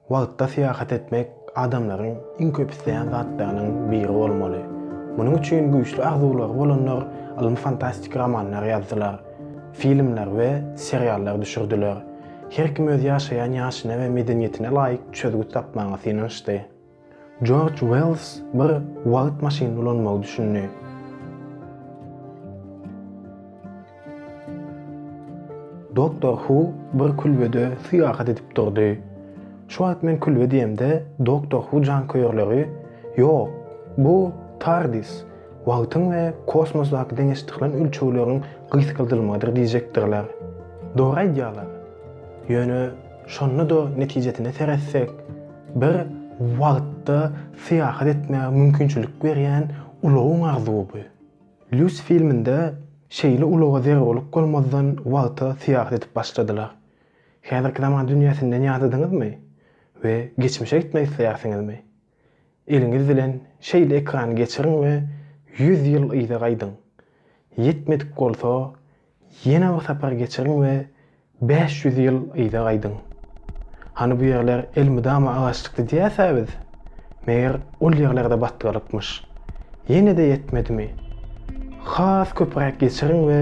Wagtda syýahat etmek adamlaryň iň köp isleýän zatlarynyň biri bolmaly. Munuň üçin güýçli arzuwlary bolanlar ylmy-fantastik romanlar ýazdylar, filmler we seriallar düşürdiler. Her kim öz ýaşaýan ýaşyna we medeniýetine laýyk çözgüt tapmaga synanyşdy. Jorj Wells bir wagt maşyn ulanmagy düşündi. Doktor Hu bir külbede syýahat edip durdy. Şu wagt men külbe diýemde, Doktor Hu janköýerleri, Ýok, bu TARDIS, wagtyň we kosmosdaky deňeşdirilen ölçegleriň gysgaldylmagydyr diýjekdirler. Dogry aýdýarlar. Ýöne şonda-da netijesine seretsek, Bir wagtda syýahat etmäge mümkinçilik berýän ulagyň arzuwy bu. Lýus filminde şeýle ulaga zerurlyk bolmazdan wagta syýahat edip başladylar. Häzirki zaman dünýäsinden ýadadyňyzmy we geçmişe gitmek isleýärsiňizmi? Eliňiz bilen şeýle ekrany geçiriň we ýüz ýyl yza gaýdyň. Ýetmedik bolsa, Ýene bir sapar geçiriň we bäş ýüz ýyl yza gaýdyň. Hany bu ýerler elmydama agaçlykdy diýýäs-ä biz? Meger ol ýerler-de batgalykmyş. Ýene-de ýetmedimi? Has köpüräk geçiriň we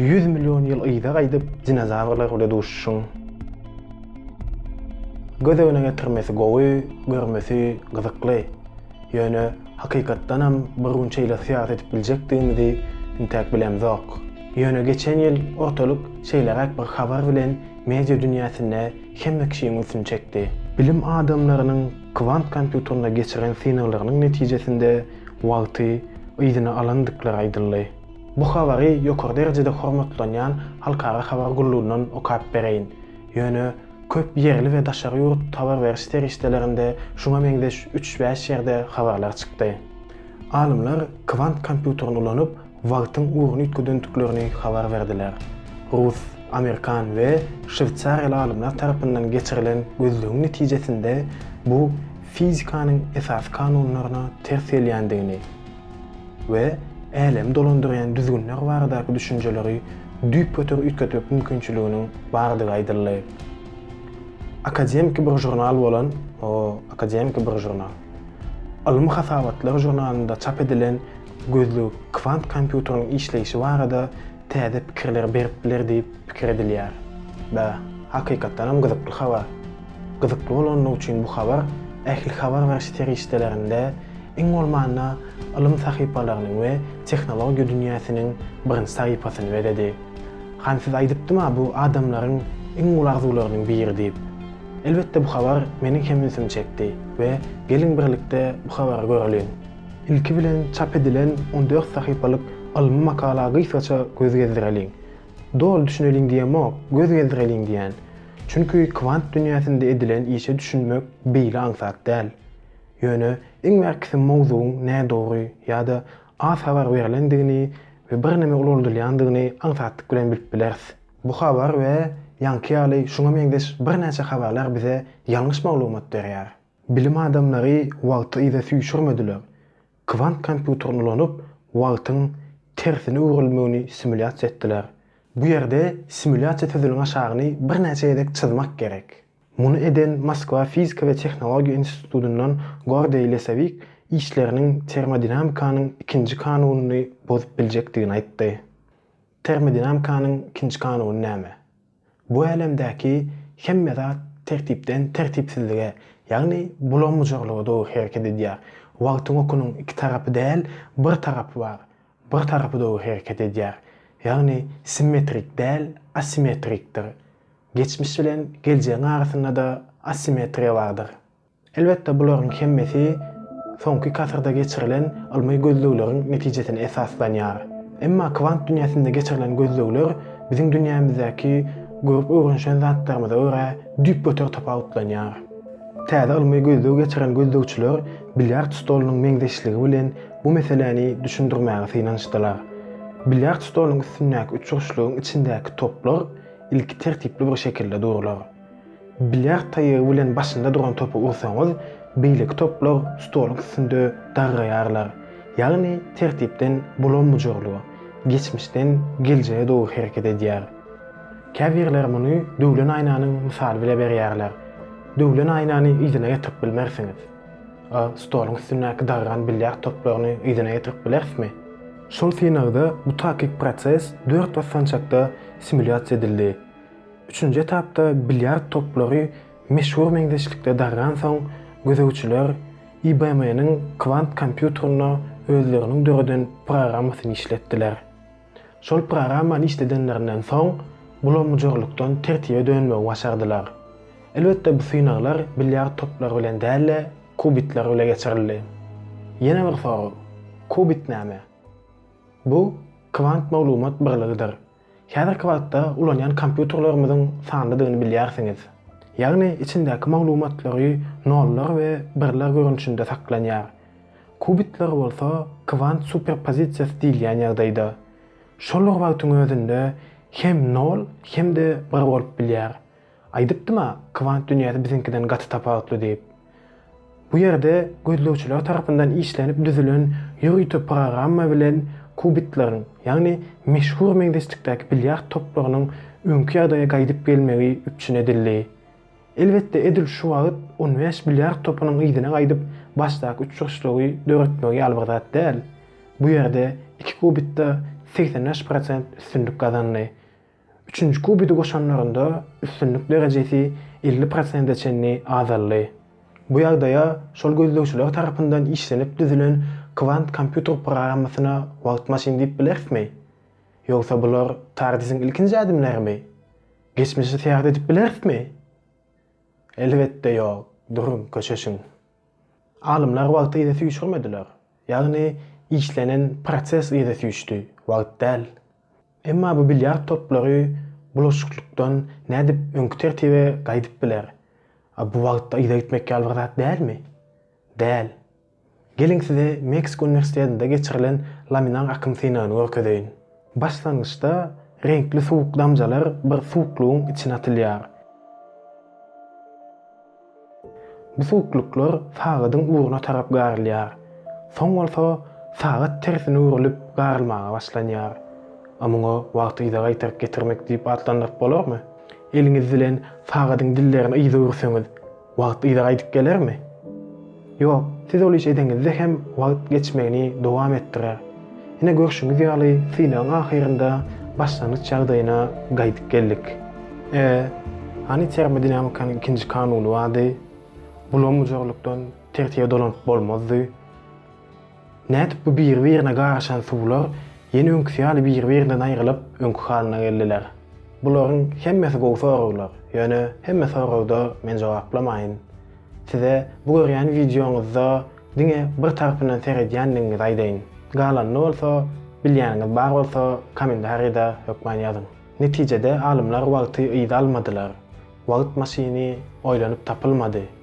ýüz million ýyl yza gaýdyp dinozawrlar bile duşuşyň. Göz öňüne getirmesi gowy, görmesi gyzykly. Ýöne Hakykatdanam, bir gün şeýle syýasy edip biljekdigimizi entäk bilemzok. Ýöne geçen ýyl ortalyk şeýleräk bir habar bilen media dünýäsinde hemme kişiň ünsüni çekdi. Bilim adamlarynyň kwant kompýuterinde geçiren synaglarynyň netijesinde wagty yzyna alandyklary aýdyldy. Bu habary ýokary derejede hormatlanýan halkara habar gullugyndan okap bereýin. Ýöne köp ýerli we daşary ýurt habar beriş serişdelerinde şuňa meňzeş üç-bäş ýerde habarlar çykdy. Alymlar kwant kompýuterini ulanyp, wagtyň ugruny üýtgedendiklerini habar berdiler. Rus, amerikan we şweýsariýaly alymlar tarapyndan geçirilen gözlegiň netijesinde bu fizikanyň esasy kanunlaryna ters gelýändigini, we älemi dolandyrýan düzgünler baradaky düşünjeleri düýpgöter üýtgetmek mümkinçiliginiň bardygy aýdyldy. Akademiki bir žurnal bolan O, akademiki bir žurnal. Ylmy hasabatlar žurnalynda çap edilen gözleg kwant kompýuteriniň işleýşi barada täze pikirleri berip biler diýip pikir edilýär. Bä, hakykatdanam gyzykly habar. Gyzykly bolandygy üçin bu habar ähli habar beriş serişdelerinde, iň bolmanda, ylym sahypalarynyň we tehnologiýa dünýäsiniň birinji sahypasyny bezedi. Han size aýdypdym-a bu adamlaryň iň uly arzuwlarynyň biri diýip. Elbetde bu habar meniň hem ünsümi çekdi we geliň birlikde bu habary göreliň. Ilki bilen çap edilen on dört sahypalyk ylmy makala gysgaça göz gezdireliň. Doly düşüneliň diýemok, göz gezdireliň diýýän. Çünki kwant dünýäsinde edilen işe düşünmek beýle aňsat däl. Ýöne iň bärkisi mowzugyň nädogry ýa-da az habar berlendigini we birneme ulaldylýandygyny aňsatlyk bilen bilip bileris. Bu habar we ýaňky ýaly şuňa meňzeş birnäçe habarlar bize ýalňyş maglumat berýär. Bilim adamlary wagty yza süýşürmediler, kwant kompýuterini ulanyp, wagtyň tersine öwrülmegini simulýasiýa etdiler. Bu ýerde simulýasiýa sözüniň aşagyny birnäçe gezek çyzmak gerek. Muny eden Moskwa fizika we tehnologiýa institutyndan Gordeý Lesowik işleriniň termodinamikanyň ikinji kanunyny bozup biljekdigini aýtdy. Termodinamikanyň ikinji kanuny näme? Bu älemdäki hemme zat tertipden tertipsizlige, ýagny bulam-bujarlyga dogry hereket edýär. Wagtyň okunyň iki tarapy däl, bir tarapy bar. Bir tarapy dogry hereket edýär. Ýagny simmetrik däl, asimetrikdir. Geçmiş bilen geljegiň arasynda-da asimetriýa bardyr. Elbetde bularyň hemmesi soňky kasyrda geçirilen ylmy gözlegleriň netijesine esaslanýar. Emma kwant dünýäsinde geçirilen gözlegler biziň dünýämizdäki görüp öwrenişen zatlarymyza görä düýpgöter tapawutlanýar. Täze ylmy gözleg geçiren gözlegçiler bilýard stolunyň meňzeşligi bilen bu meseläni düşündirmäge synanyşdylar. Bilýard stolunyň üstündäki üçburçlygyň içindäki toplar ilki tertipli bir şekilde durlar. Bilýard taýagy bilen başynda duran topy ursaňyz, beýleki toplar stoluň üstünde dargaýarlar. Ýagny tertipden bulam-bujarlyga, geçmişden geljege dogry hereket edýär. Käbirler muny döwlen aýnanyň mysaly bile berýärler. Döwlen aýnany yzyna getirip bilmersiňiz. A stoluň üstündäki dargan bilýard toplaryny yzyna getirip bilerismi? Şol synagda bu takyk proses dört basgançakda simulýasiýa edildi. Üçünji etapda bilýard toplary meşhur meňzeşlikde dargansoň, gözegçiler IBM-niň kwant kompýuterinde özleriniň döreden programmasyny işletdiler. Şol programmany işledenlerinden soň, bulamujurlykdan tertibe dönmegi başardylar. Elbetde bu synaglar bilýard toplary bilen däl-de, kubitler bile geçirildi. Ýene bir sorag, kubit näme? Bu kwant maglumat birligidir. Häzirki wagtda ulanýan kompýuterlerimiziň sanlydygyny bilýärsiňiz. Ýagny içindäki maglumatlary nollar we birler görnüşinde saklanýar. Kubitler bolsa kwant superpozisiýasy diýilýän ýagdaýda. Şol bir wagtyň özünde hem nol hem-de bir bolup bilýär. Aýdypdym-a, kwant dünýäsi biziňkiden gaty tapawutly diýip. Bu ýerde gözlegçiler tarapyndan işlenip düzülen ýörite programma bilen kubitleriň, ýagny meşhur meňzeşlikdäki bilýard toplarynyň öňki ýagdaýa gaýdyp gelmegi üpjün edildi. Elbetde, edil şu wagt on bäş bilýard topynyň yzyna gaýdyp başdaky uçuşlygy döretmegi ýaly bir zat däl. Bu ýerde iki kubitde segsen bäş prosent üstünlik gazandy. Üçünji kubiti goşanlarynda üstünlik derejesi elli prosente çenli azaldy. Bu ýagdaýa şol gözlegçiler tarapyndan işlenip düzülen kwant kompýuter programmasyna wagt maşyny diýip bilerismi? Ýogsa bular TARDIS-iň ilkinji ädimlerimi? Geçmişe seýahat edip bilerismi? Elbetde ýok, duruň, köşeşiň. Alymlar wagty yza süýşürmediler. Ýagny işlenen proses yza süýşdi, wagt däl. Emma bu bilýard toplary bulaşyklykdan nädip öňki tertibe gaýdyp biler? A bu wagtda yza gitmek ýaly bir zat dälmi? Däl. Geliň size Meksika uniwersitetinde geçirilen laminar akym synagyny görkezeýin. Başlangyçda reňkli suwuk damjalar bir suwuklygyň içine atylýar. Bu suwuklyklar sagadyň ugruna tarap garylýar. Soň bolsa sagat tersine öwrülip garylmaga başlanýar. A muňa wagty yza gaýtaryp getirmek diýip atlandyryp bolarmy? Eliňiz bilen sagadyň dillerini yza öwürseňiz, wagt yza gaýdyp gelermi? Ýok, siz ol işi edeňizde hem wagt geçmegini dowam etdirer. Ine görşüňiz ýaly synagyň ahyrynda başlangyç ýagdaýyna gaýdyp geldik. E, hany termodinamikanyň ikinji kanuny bardy. Bulam ujarlykdan tertibe dolanyp bolmazdy. Nädip bu biri-birine garyşan suwlar ýene öňküsi ýaly biri-birinden aýrylyp, öňki halyna geldiler? Bularyň hemmesi gowy soraglar, ýöne hemme soragda men jogaplamaýyn. Size bu görýän wideoňyzda diňe bir tarpyndan seredýändigiňizi aýdaýyn. Galanyny bolsa, bilýäniňiz bar bolsa, kommentarida hökman ýazyň. Netijede alymlar wagty yza almadylar. Wagt maşyny oýlanyp tapylmady.